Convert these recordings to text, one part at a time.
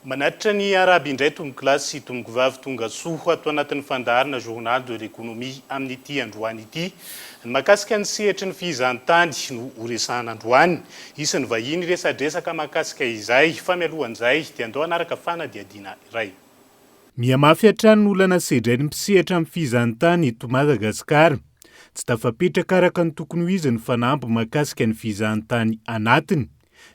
Manatitra ny iarahaby indray tompokolahy sy tompokovavy tonga soa ato anatin'ny fandaharana Journal de l'Economie amin'ity androany ity. Ny mahakasika ny sehatry ny fihizan-tany no horesahana androany. Hisy ny vahiny hiresadresaka mahakasika izay, fa mialohan'izay dia andao hanaraka fanadihadiana iray. Mihamafy hatrany ny olana sedrain'ny mpisehatra amin'ny fihizan-tany eto Madagasikara. Tsy tafapetraka araka ny tokony ho izy ny fanamby mahakasika ny fihizan-tany anatiny.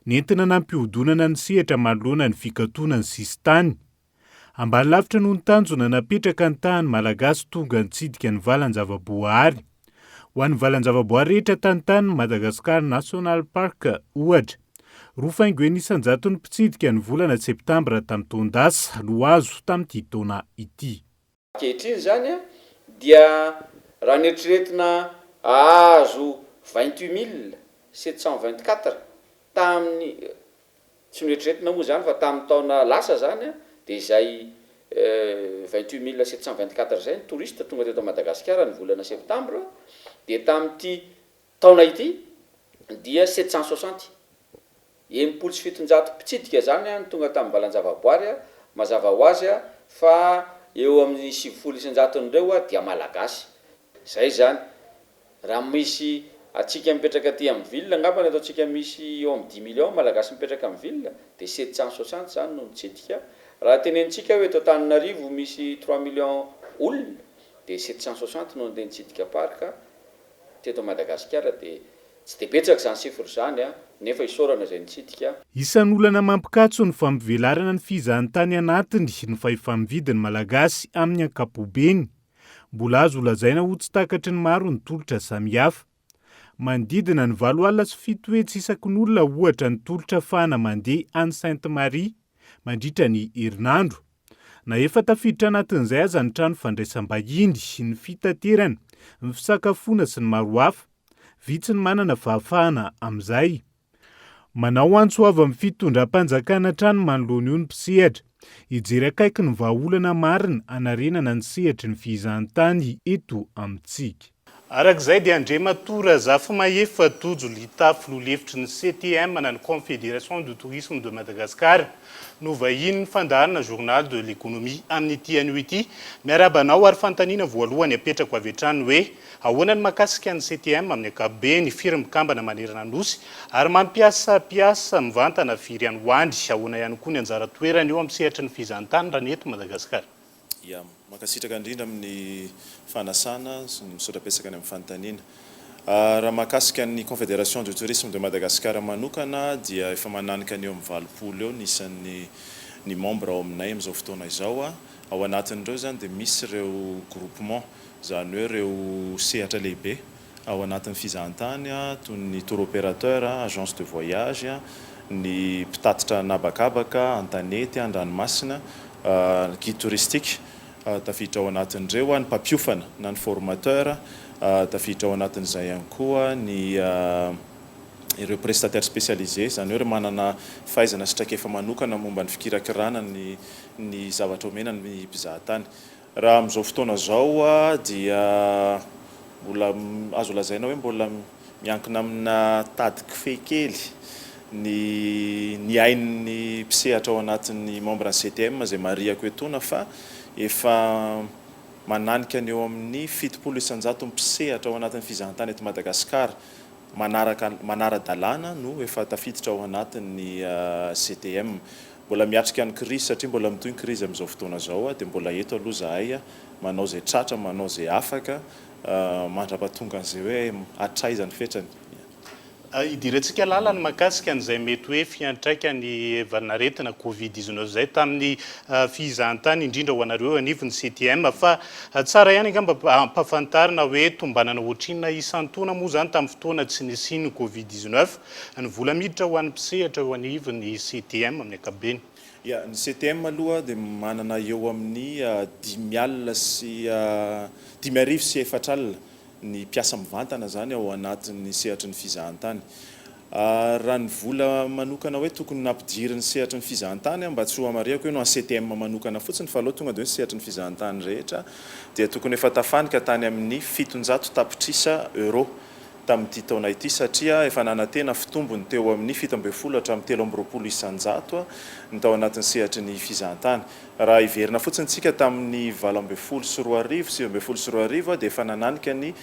Nentina nampihodonana ny sehatra manoloana ny fikatonan'ny sisintany. Ambany lavitra noho ny tanjona napetraka ny tahan'ny Malagasy tonga nitsidika ny valan-javaboahary. Ho an'ny valan-javaboahary rehetra tantanin'i Madagascar National Park, ohatra, roa faingo enina isan-jato ny mpitsidika ny volana septambra tamin'ny taon-dasa no azo tamin'ity taona ity. Ankehitriny izany dia raha ny eritreretina hahazo vingt huit mille sept cent vingt quatre tamin'ny, tsy noeritreretina moa izany fa tamin'ny taona lasa izany dia izay vingt huit mille sept cent vingt quatre izay ny touristes tonga teto Madagasikara ny volana septambra dia tamin'ity Taona ity dia sept cent soixante, enimpolo sy fitonjato, mpitsidika izany no tonga tamin'ny valan-javaboary, mazava ho azy fa eo amin'ny sivifolo isan-jaton'ireo dia Malagasy. Izay izany, raha misy antsika mipetraka aty amin'ny ville angamba ny ataontsika misy eo amin'ny dix millions Malagasy mipetraka amin'ny ville dia sept cent soixante izany no mitsidika, raha tenenintsika hoe eto Antananarivo misy trois millions olona dia sept cent soixante no handeha nitsidika parc Teto Madagasikara dia tsy dia betsaka izany sifra izany nefa isaorana izay nitsidika. Isan'ny olana mampikatso ny fampivelarana ny fizahantany anatiny ny fahefa-mividy ny Malagasy amin'ny ankapobeny. Mbola azo holazaina ho tsy takatry ny maro ny tolotra samihafa. Manodidina ny valo alina sy fito hetsy isaky ny olona ohatra ny tolotra fahana mandeha any Sainte Marie mandritra ny herinandro. Na efa tafiditra anatin'izay aza ny trano fandraisam-bahiny, ny fitaterana, ny fisakafoana sy ny maro hafa, vitsy ny manana fahafahana amin'izay. Manao antso avo amin'ny fitondram-panjakana hatrany manoloana io ny mpisehatra. Hijery akaiky ny vahaolana marina hanarenana ny sehatry ny fihizahantany eto amintsika. Araka izay dia Andriamatoa Razafimahefa Tojo Lita filoha lefitry ny CTM na ny Confédération du Tourisme de Madagascar no vahinin'ny fandaharana Journal de l'économie amin'ity anio ity. Miarahaba anao ary fanontaniana voalohany apetrako avy hatrany hoe ahoana ny mahakasika ny CTM amin'ny ankapobeny, firy mikambana manerana ny Nosy ary mampiasa mpiasa mivantana firy any ho any, ahoana ihany koa ny anjara toerany eo amin'ny sehatry ny fizahantany raha ny eto Madagasikara. Yam. Mankasitraka indrindra amin'ny fanasana sy ny misaotra betsaka any amin'ny fanontaniana. Raha mahakasika ny Confédération du Tourisme de Madagascar manokana dia efa mananika ny eo amin'ny valopolo eo ny isan'ny ny membre ao aminay amin'izao fotoana izao. Ao anatin'ireo izany dia misy ireo groupement izany hoe ireo sehatra lehibe. ao anatin'ny fizahantany toy ny tour opérateur, agence de voyage, ny mpitatitra an'habakabaka, an-tanety, an-dranomasina, guide touristique, tafiditra ao anatin'ireo ny mpampiofana na ny formateur, tafiditra ao anatin'izay ihany koa ny ireo prestataires spécialisés, izany hoe ireo manana fahaizana sy traikefa manokana momba ny fikirakirana ny ny zavatra omena ny mpizahatany. Raha amin'izao fotoana izao dia mbola azo lazaina hoe mbola miankina amina tady kofehy kely ny ny ain'ny mpisehatra ao anatin'ny membre ny CTM izay marihako etoana fa efa mananika ny eo amin'ny fitopolo isanjato mpisehatra ao anatin'ny fizahantany eto Madagasikara manaraka manara-dalàna no efa tafiditra ao anatin'ny CTM. Mbola miatrika ny krizy satria mbola mitohy ny krizy amin'izao fotoana izao aho dia mbola eto aloha izahay manao izay tratra, manao izay afaka mandra-pahatongan'ny izay hoe hatraiza ny fetrany. Idirantsika lalana ny mahakasika an'izay mety hoe fiantraikan'ny valin'aretina covid dix-neuf izay tamin'ny fizahantany indrindra ho anareo eo anivon'ny CTM. Fa tsara ihany angamba ampahafantarina hoe tombanana ohatrinona isan-taona moa izany tamin'ny fotoana tsy nisian'ny covid dix-neuf? Ny vola miditra ho an'ny mpisehatra eo anivon'ny CTM amin'ny ankapobeny. Ya, ny CTM aloha dia manana eo amin'ny dimy alina sy dimy arivo sy efatra alina ny mpiasa mivantana izany ao anatin'ny sehatry ny fizahantany. Raha ny vola manokana hoe tokony nampidirin'ny sehatry ny fizahantany, mba tsy hohamarihako eny ho an'ny CTM manokana fotsiny fa aleo tonga dia hoe ny sehatry ny fizahantany rehetra, dia tokony efa tafanika tany amin'ny fitonjato tapitrisa euros. tamin'ity taona ity satria efa nanantena fitombony teo amin'ny fito ambin'ny folo hatramin'ny telo amby roapolo isan-jato ny tao anatin'ny sehatry ny fizahantany. Raha hiverina fotsiny isika tamin'ny valo ambin'ny folo sy roa arivo, sivy ambin'ny folo sy roa arivo dia efa nananika ny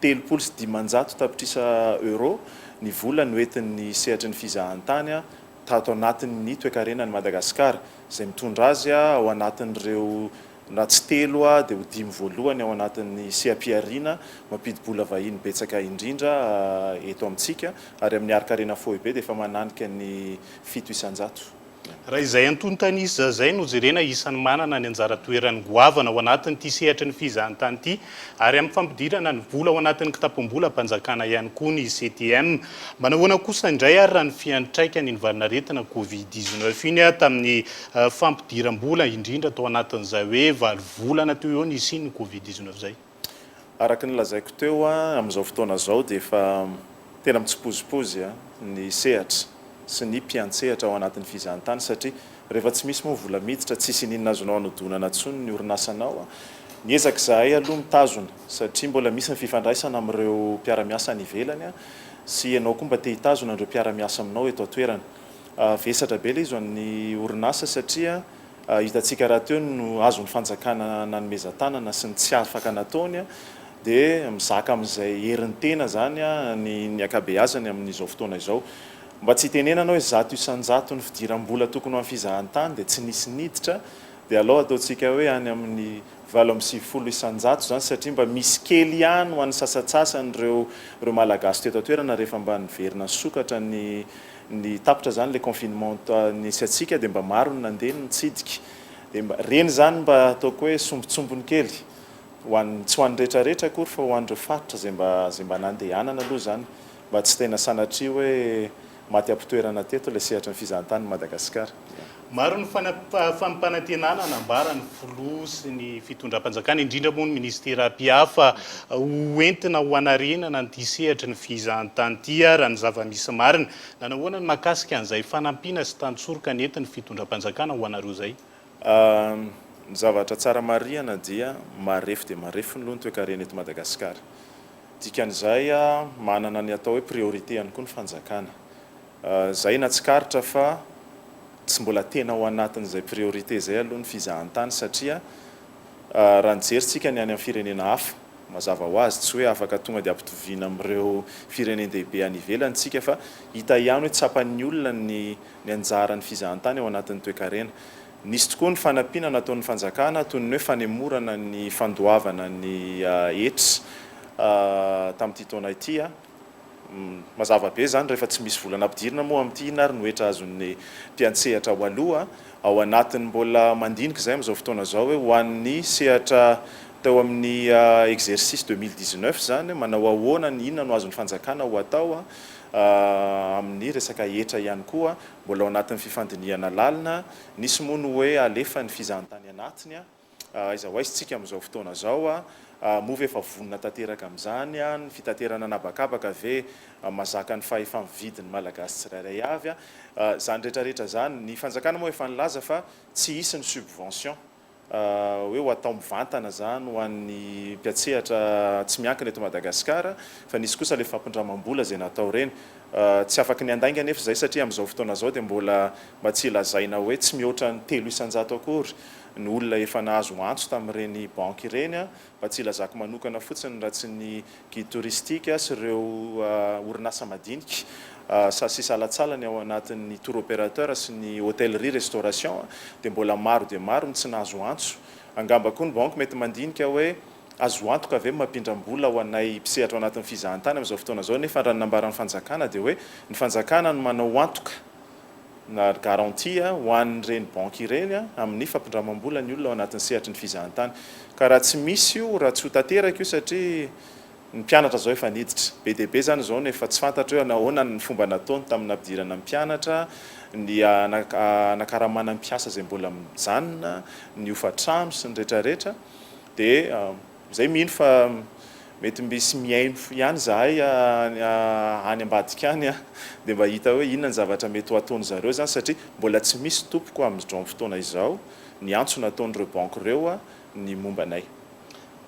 telopolo sy dimanjato tapitrisa euros ny vola noentin'ny sehatry ny fizahantany tato anatin'ny toekarenan'i Madagasikara izay mitondra azy ao anatin'ireo Raha tsy telo aho dia ho dimy voalohany ao anatin'ny seha-pihariana mampidi-bola vahiny betsaka indrindra eto amintsika ary amin'ny harin-karena foibe dia efa mananika ny fito isan-jato. Raha izay antontan'isa izay no jerena isan'ny manana ny anjara toerany goavana ao anatin'ity sehatry ny fizahantany ity Ary amin'ny fampidirana ny vola ao anatin'ny kitapom-bolam-panjakana ihany koa ny CTM. Manahoana kosa indray ary raha ny fiantraikan'iny valin'aretina Covid dix-neuf iny tamin'ny fampidiram-bola, indrindra tao anatin'izay hoe valo volana teo eo nisian'ny Covid dix-neuf izay? Araka ny lazaiko teo, amin'izao fotoana izao dia efa tena mitsipozipozy ny sehatra sy ny mpiantsehatra ao anatin'ny fizahantany satria Rehefa tsy misy moa vola miditra, tsisy ininona azonao anodonana tsony ny orinasanao. Miezaka izahay aloha mitazona satria mbola misy ny fifandraisana amin'ireo mpiara-miasa any ivelany sy ianao koa mba te hitazona an'ireo mpiara-miasa aminao eto an-toerana. Vesatra be ilay izy ho an'ny orinasa satria hitantsika rahateo ny azon'ny fanjakana nanomezan-tanana sy ny tsy afaka nataony dia mizaka amin'izay herin'ny tena izany ny ankabeazany amin'izao fotoana izao. Mba tsy hitenenana hoe zato isan-jato ny fidiram-bola tokony ho an'ny fizahantany dia tsy nisy niditra, dia alao ataontsika hoe any amin'ny valo amby sivifolo isan-jato izany satria mba misy kely ihany ho an'ny sasantsasany ireo ireo Malagasy teto an-toerana rehefa mba niverina nisokatra ny ny tapitra izany ilay confinement nisy antsika dia mba maro ny nandeha ny nitsidika dia mba ireny izany mba ataoko hoe sombintsombiny kely ho an'ny tsy ho an'ny rehetrarehetra akory fa ho an'ireo faritra izay mba izay mba nandehanana aloha izany mba tsy tena sanatria hoe maty am-pitoerana teto ilay sehatry ny fizahantany i Madagasikara. Maro ny fampanantenana nambara ny filoha sy ny fitondram-panjakana, indrindra moa ny minisitera mpihafa, ho entina ho hanarenana an'ity sehatry ny fizahantany ity ary raha ny zava-misy marina. Nanao ahoana ny mahakasika an'izay fanampiana sy tantsoroka nentin'ny fitondram-panjakana ho anareo izay? Ny zavatra tsara marihana dia marefo dia marefo ny loha ny toekarena eto Madagasikara. Dikan'izay manana ny atao hoe priorité ihany koa ny fanjakana. Izay na tsikaritra fa tsy mbola tena ao anatin'izay priorité izay aloha ny fizahantany satria raha ny jerintsika ny any amin'ny firenena hafa, mazava ho azy tsy hoe afaka tonga dia ampitoviana amin'ireo firenen-dehibe any ivelany isika fa hita ihany hoe tsapan'ny olona ny ny anjaran'ny fizahantany ao anatin'ny toekarena. Nisy tokoa ny fanampiana nataon'ny fanjakana toy ny hoe fanemorana ny fandoavana ny ets tamin'ity taona ity. Mazava be izany rehefa tsy misy vola nampidirina moa amin'ity. Inona ary no hetra azon'ny mpiantsehatra ho aloha ao anatin'ny mbola mandinika izay amin'izao fotoana izao hoe ho an'ny sehatra teo amin'ny exercice deux mille dix-neuf izany manao ahoana, inona no azon'ny fanjakana ho atao. Amin'ny resaka hetra ihany koa, mbola ao anatin'ny fifandinihana lalina. Nisy moa ny hoe halefa ny fizahantany anatiny. Aiza ho aiza isika amin'izao fotoana izao? Moa ve efa vonona tanteraka amin'izany? Ny fitaterana an'habakabaka ve mahazaka ny fahefa-mividin'ny Malagasy tsirairay avy? Izany rehetra rehetra izany. Ny fanjakana moa efa nilaza fa tsy hisy ny subvention. hoe ho atao mivantana izany ho an'ny mpiantsehatra tsy miankina eto Madagasikara fa nisy kosa ilay fampindramam-bola izay natao ireny. Tsy afaky ny handainga anefa izay satria amin'izao fotoana izao dia mbola mba tsy lazaina hoe tsy mihoatra ny telo isan-jato akory ny olona efa nahazo antso tamin'ireny banky ireny Mba tsy hilazako manokana fotsiny raha tsy ny guide touristique sy ireo orinasa madinika sa sy salatsalany ao anatin'ny tour opérateur sy ny hotellerie restauration dia mbola maro dia maro ny tsy nahazo antso. Angamba koa ny banky mety mandinika hoe azo antoka ve mampindram-bola ho anay mpisehatra ao anatin'ny fizahantany amin'izao fotoana izao nefa raha ny nambaran'ny fanjakana dia hoe ny fanjakana no manao antoka na garantie ho an'ireny banky ireny amin'ny fampindramam-bola ny olona ao anatin'ny sehatry ny fizahantany. Ka raha tsy misy io, raha tsy ho tanteraka io satria ny mpianatra izao efa niditra. Be dia be izany izao no efa tsy fantatro hoe ahoana ny fomba nataony tamin'ny nampidirana mpianatra, ny hanakaramana mpiasa izay mbola mijanona, ny hofa-trano sy ny rehetra rehetra dia. Izay mino fa mety mbisy mihaino fo ihany izahay any ambadika any an! Dia mba hita hoe inona ny zavatra mety ho ataon-dry zareo izany satria mbola tsy misy tompoko amin'izao fotoana izao ny antso nataon'ireo banky ireo ny momba anay.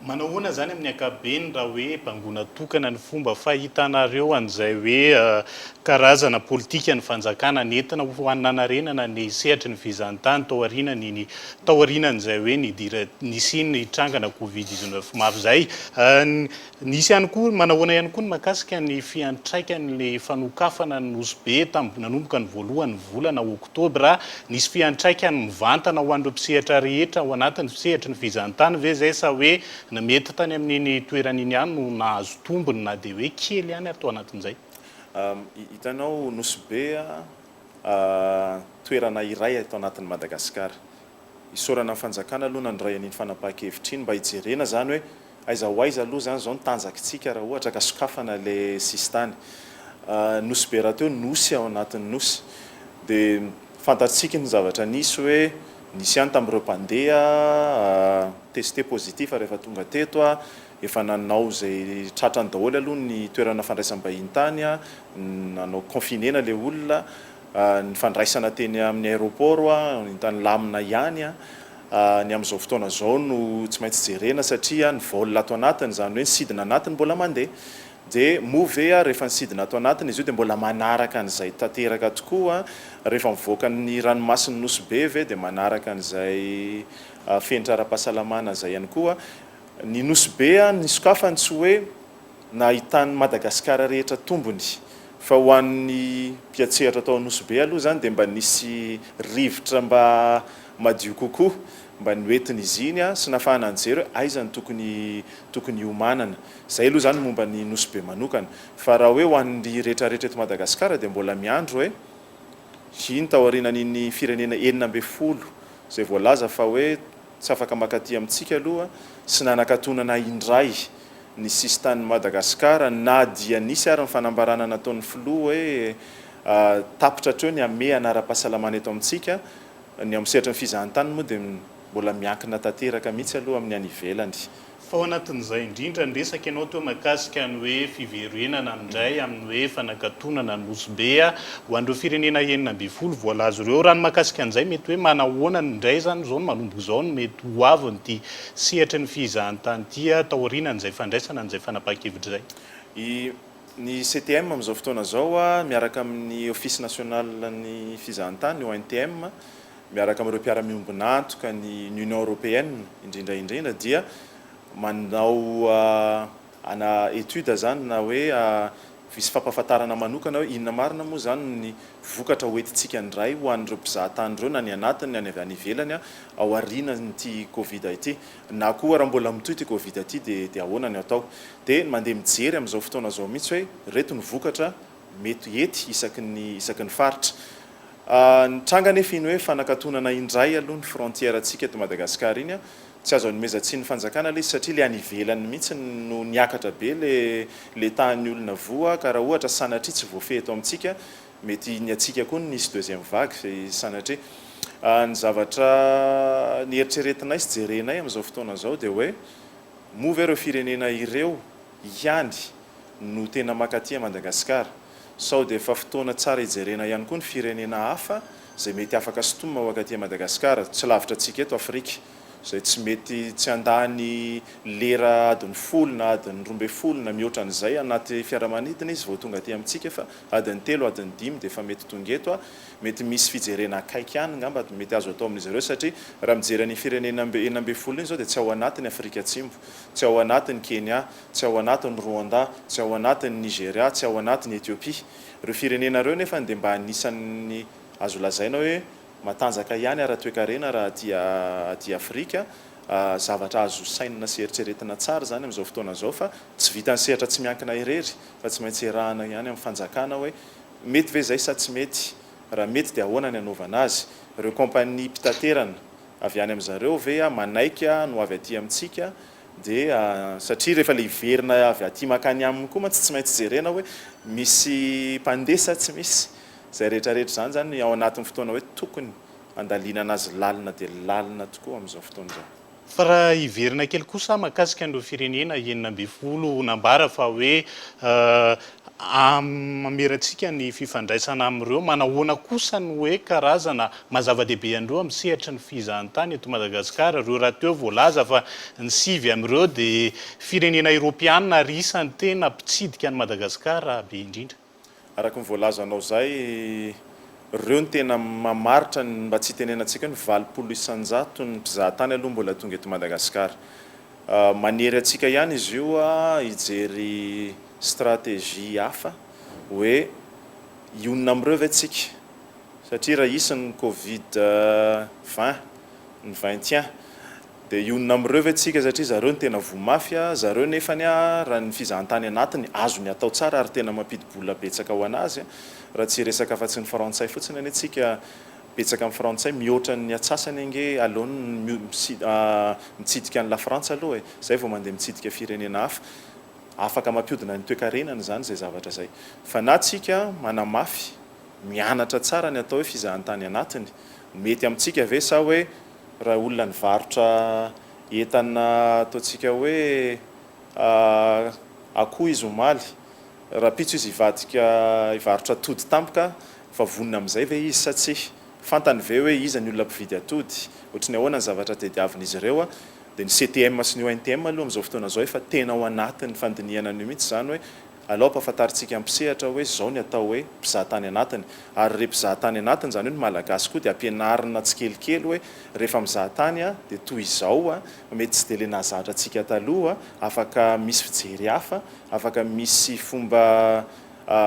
Manao ahoana izany amin'ny ankapobeny raha hoe bangoina tokana ny fomba fahitanareo an'izay hoe karazana politika ny fanjakana nentina ho hananarenana ny sehatry ny fizahantany tao aoriana ny ny taorianan'izay hoe nidira ny Sina hitrangana Covid dix-neuf maro izay. Nisy ihany koa, manahoana ihany koa ny mahakasika ny fiantraikan'ilay fanokafana ny Nosy Be tamin'ny nanomboka ny voalohan'ny volana oktobra? Nisy fiantraikany mivantana ho an'ireo mpisehatra rehetra ao anatin'ny sehatry ny fizahantany ve izay sa hoe ny mety tany amin'iny toerana iny ihany no nahazo tombony na dia hoe kely ihany ary tao anatin'izay? Hitanao, Nosy Be toerana iray ato anatin'i Madagasikara. Isaorana ny fanjakana aloha nandray an'iny fanapahan-kevitra iny mba hijerena izany hoe aiza ho aiza aloha izany izao ny tanjakintsika raha ohatra ka sokafana ilay sisintany. Nosy be rahateo nosy ao anatin'ny nosy dia fantatsika ny zavatra nisy hoe nisy ihany tamin'ireo mpandeha tester positif rehefa tonga teto Efa nanao izay tratrany daholo aloha ny toerana fandraisam-bahiny tany, nanao confinena ilay olona, ny fandraisana teny amin'ny aéroport entany lamina ihany, ny amin'izao fotoana izao no tsy maintsy jerena satria ny vol ato anatiny, izany hoe ny sidina anatiny mbola mandeha, dia moa ve rehefa ny sidina ato anatiny izy io dia mbola manaraka an'izay tanteraka tokoa, rehefa mivoaka ny ranomasin'i Nosy Be ve dia manaraka an'izay fenitra ara-pahasalamana izay ihany koa, Ny Nosy Be an ny sokafany tsy hoe na ahitan'ny Madagasikara rehetra tombony fa ho an'ny mpiatsehatra tao Nosy Be aloha izany dia mba nisy rivotra mba madio kokoa mba noentin'izy iny an sy nafahana nijery hoe aiza no tokony tokony hiomanana. Izay aloha izany momba ny Nosy Be manokana. Fa raha hoe ho an'ny rehetra rehetra eto Madagasikara dia mbola miandry hoe iny taorianan'iny firenena enina ambin'ny folo izay voalaza fa hoe Tsy afaka maka aty amintsika aloha sy nanakatonana indray ny sisin-tanin'i Madagasikara na dia nisy ary ny fanambarana nataon'ny filoha hoe tapitra hatreo ny hamehana ara-pahasalamana eto amintsika. Ny ao amin'ny sehatry ny fizahantany moa dia mbola miankina tanteraka mihitsy aloha amin'ny any ivelany Fa ao anatin'izay indrindra ny resaka ianao teo mahakasika ny hoe fiverenana indray amin'ny hoe fanakatonana ny Nosy Be ho an'ireo firenena enina ambin'ny folo voalaza ireo. Raha ny mahakasika an'izay mety hoe manahoana indray izany izao no manomboka izao no mety ho avin'ity sehatry ny fizahantany ity taorianan'izay fandraisana an'izay fanapahan-kevitra izay? I Ny CTM amin'izao fotoana izao miaraka amin'ny Office National ny Fizahantany, ONTM, miaraka amin'ireo mpiara-miombon'antoka ny ny Union Européenne indrindra indrindra dia manao ana étude zany na hoe misy fampahafantarana manokana hoe inona marina moa zany ny vokatra ho entintsika indray ho an'ireo mpizaha tany ireo na ny anatiny na ny avy any ivelany ao aorianan'ity covid ity na koa raha mbola mitohy ity covid ity dia dia ahoana ny atao dia mandeha mijery amin'izao fotoana izao mihitsy hoe ireto ny vokatra mety hety isaky ny isaky ny faritra. Nitranga anefa iny hoe fanakatonana indray aloha ny frontière antsika eto Madagascar iny, tsy azo anomezan-tsiny fanjakana ilay izy satria ilay any ivelany mihitsy no niakatra be ilay ilay tahan'ny olona voa ka raha ohatra sanatria tsy voafehy eto amintsika mety ny antsika koa no hisy deuxième vague fa sanatria ny zavatra nieritreretinay sy jerenay amin'izao fotoana izao dia hoe moa ve ireo firenena ireo ihany no tena maka aty Madagasikara. Sao dia efa fotoana tsara hijerena ihany koa ny firenena hafa izay mety afaka sintomina ho aka aty Madagasikara, tsy lavitra antsika eto Afrika, izay tsy mety tsy handà ny lera adiny folo na adiny roa ambin'ny folo na mihoatra an'izay anaty fiaramanidina izy vao tonga aty amintsika fa adiny telo adiny dimy dia efa mety tonga eto a, mety misy fijerena akaiky any ngamba mety azo atao amin'izy ireo satria raha mijery an'iny firenena enina ambin'ny folo iny izao dia tsy ao anatiny Afrika Atsimo, tsy ao anatiny Kenya, tsy ao anatin'i Rwanda, tsy ao anatin'i Nigeria, tsy ao anatin'i Ethiopia. Ireo firenena ireo nefany dia mba anisan'ny azo lazaina hoe matanjaka ihany ara-toekarena raha aty aty Afrika. Zavatra azo sainina sy eritreretina tsara izany amin'izao fotoana izao fa tsy vitan'ny sehatra tsy miankina irery fa tsy maintsy iarahana ihany amin'ny fanjakana hoe mety ve izay sa tsy mety? Raha mety dia ahoana ny anaovana azy? Ireo kaompania mpitaterana avy any amin'izareo ve manaiky ny ho avy aty amintsika? Dia satria rehefa ilay hiverina avy aty mankany aminy koa mantsy tsy maintsy jerena hoe misy mpandeha sa tsy misy. Izay rehetrarehetra izany izany ao anatin'ny fotoana hoe tokony handalinana azy lalina dia lalina tokoa amin'izao fotoana izao. Fa raha hiverina kely kosa aho mahakasika an'ireo firenena enina ambin'ny folo nambara fa hoe Hamiratsika ny fifandraisana amin'ireo. Manahoana kosa ny hoe karazana maha zava-dehibe an'ireo amin'ny sehatry ny fizahantany eto Madagasikara? Ireo rahateo voalaza fa ny sivy amin'ireo dia firenena eoropeana ary isan'ny tena mpitsidika an'i Madagasikara be indrindra. Araka ny voalazanao izay, ireo no tena mamaritra ny, mba tsy hitenenantsika hoe ny valopolo isan-jato ny mpizahatany aloha mbola tonga eto Madagasikara. Manery antsika ihany izy io hijery. stratégie hafa hoe hionona amin'ireo ve tsika satria raha hisy ny covid vingt ny vingt et un dia hionona amin'ireo ve tsika satria zareo no tena voa mafy a, zareo nefa anie raha ny fizahantany anatiny azony atao tsara ary tena mampidi-bola betsaka ho an'azy raha tsy hiresaka afa-tsy ny frantsay fotsiny anie tsika betsaka amin'ny frantsay mihoatra ny atsasany ange aleony mitsidika an'i lafrantsa aloha e, izay vao mandeha mitsidika firenena hafa. Afaka mampiodina ny toekarenany izany izay zavatra izay. Fa na tsika manamafy, mianatra tsara ny atao hoe fizahantany anatiny, mety amintsika ve sa hoe raha olona nivarotra entana ataontsika hoe akoho izy omaly, rahampitso izy hivadika hivarotra atody tampoka fa vonona amin'izay ve izy sa tsia? Fantany ve hoe iza ny olona mpividy atody? Ohatry ny ahoana ny zavatra tediavin'izy ireo? Dia ny CTM sy ny ONTM aloha amin'izao fotoana izao efa tena ao anatin'ny fandinihana an'io mihitsy izany hoe alao ampahafantarintsika ampisehatra hoe izao ny atao hoe mpizaha tany anatiny. Ary ry mpizaha tany anatiny izany hoe ny Malagasy koa dia ampianarina tsikelikely hoe rehefa mizaha tany dia toy izao, mety tsy dia ilay nahazatra antsika taloha, afaka misy fijery hafa, afaka misy fomba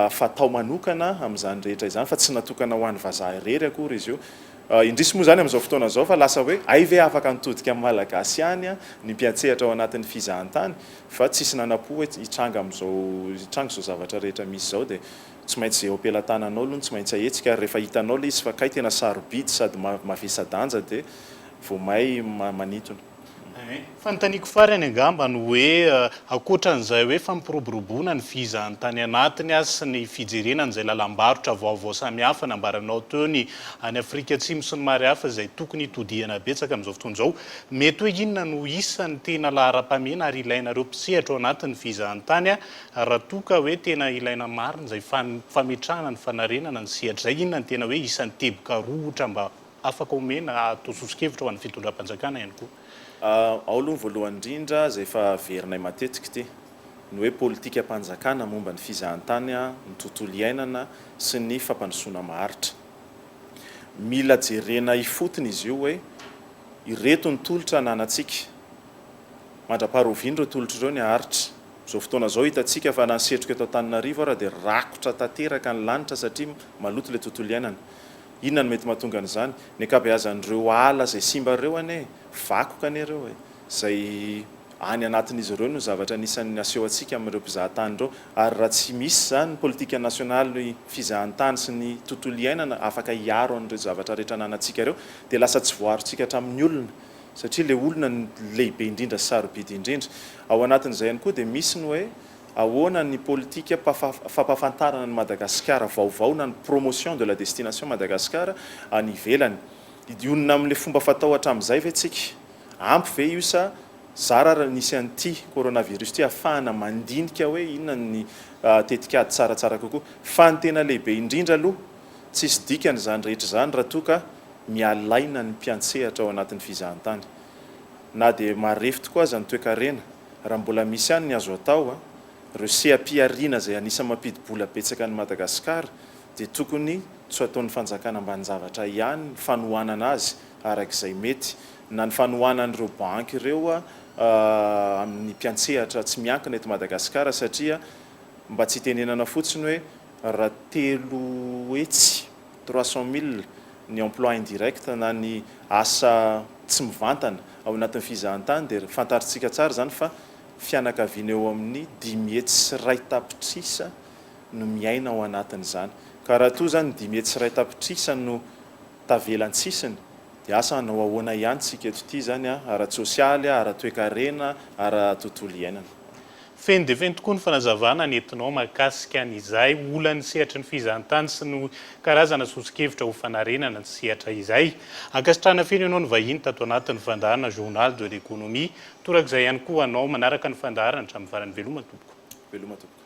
fatao manokana amin'izany rehetra izany fa tsy natokana ho an'ny vazaha irery akory izy io. Indrisy moa izany amin'izao fotoana izao fa lasa hoe hay ve afaka nitodika amin'ny Malagasy ihany ny mpiantsehatra ao anatin'ny fizahantany fa tsisy nanapo hoe hitranga amin'izao hitranga izao zavatra rehetra misy izao dia tsy maintsy izay eo am-pelatananao aloha no tsy maintsy ahetsika ary rehefa hitanao ilay izy fa kay tena sarobidy sady mavesa-danja dia vao may manitona. Fanontaniako farany angamba no hoe ankoatran'izay hoe fampiroboroboana ny visa any tany anatiny sy ny fijerena an'izay lalam-barotra vaovao samihafa nambaranao teo ny any Afrika Atsimo sy ny maro hafa izay tokony hitodihana betsaka amin'izao fotoana izao, mety hoe inona no isan'ny tena laharam-pahamehana ary ilainareo mpisehatra ao anatin'ny visa any tany raha toa ka hoe tena ilaina marina izay fametrahana ny fanarenana ny sehatra izay? Inona no tena hoe isan'ny teboka rohotra mba Afaka omena atao soso-kevitra ho an'ny fitondram-panjakana ihany koa. Ao aloha ny voalohany indrindra izay efa averinay matetika ity, ny hoe politikam-panjakana momba ny fizahantany, ny tontolo iainana sy ny fampandrosoana maharitra. Mila jerena ifotony izy io hoe ireto ny tolotra ananantsika, mandra-paharoviana ireo tolotra ireo ny haharitra. Izao fotoana izao hitantsika fa na ny setroka eto Antananarivo ara dia rakotra tanteraka ny lanitra satria maloto ilay tontolo iainana. Inona no mety mahatonga an'izany? Ny ankabeazan'ireo ala izay simba ireo anie e! Vakoka anie ireo e! Izay any anatin'izy ireo no zavatra anisan'ny aseho antsika amin'ireo mpizaha tany ireo. Ary raha tsy misy izany ny politika nasionaly fizahantany sy ny tontolo iainana afaka hiaro an'ireo zavatra rehetra ananantsika ireo dia lasa tsy voaarontsika hatramin'ny olona satria ilay olona no lehibe indrindra sy sarobidy indrindra. Ao anatin'izay ihany koa dia misy ny hoe Ahoana ny politika fampahafantarana an'i Madagasikara vaovao na ny promotion de la destination Madagascar any ivelany? Hidionona amin'ilay fomba fatao hatramin'izay ve tsika? Ampy ve io sa zara ary nisy an'ity coronavirus ity hahafahana mandinika hoe inona ny tetikady tsaratsara kokoa? Fa ny tena lehibe indrindra aloha, tsisy dikany izany rehetra izany raha toa ka mialaina ny mpiantsehatra ao anatin'ny fizahantany. Na dia marefo tokoa aza ny toekarena, raha mbola misy ihany ny azo atao a! Ireo seha-pihariana izay anisan'ny mampidi-bola betsaka an'i Madagasikara dia tokony tsy ho ataon'ny fanjakana ambanin-javatra ihany ny fanohanana azy araka izay mety, na ny fanohanan'ireo banky ireo amin'ny mpiantsehatra tsy miankina eto Madagasikara satria mba tsy itenenana fotsiny hoe raha telo hetsy. trois cent mille ny emploi indirect na ny asa tsy mivantana ao anatin'ny fizahantany dia fantarintsika tsara izany fa fianakaviana eo amin'ny dimy hetsy sy iray tapitrisa no miaina ao anatin'izany ka raha toa izany dimy hetsy sy iray tapitrisa no tavela an-tsisiny dia asa hanao ahoana ihany tsika eto ity izany ara-tsosialy, ara-toekarena, ara-tontolo iainana. Feno dia feno tokoa ny fanazavana nentinao mahakasika ny izay olan'ny sehatry ny fizahantany sy ny karazana sosokevitra ho fanarenana ny sehatra izay. Ankasitrahana feno ianao nivahiny tato anatin'ny fandaharana Journal de l'Economie. Torak'izay ihany koa ho anao manaraka ny fandaharana hatramin'ny farany. Veloma tompoko. Veloma tompoko.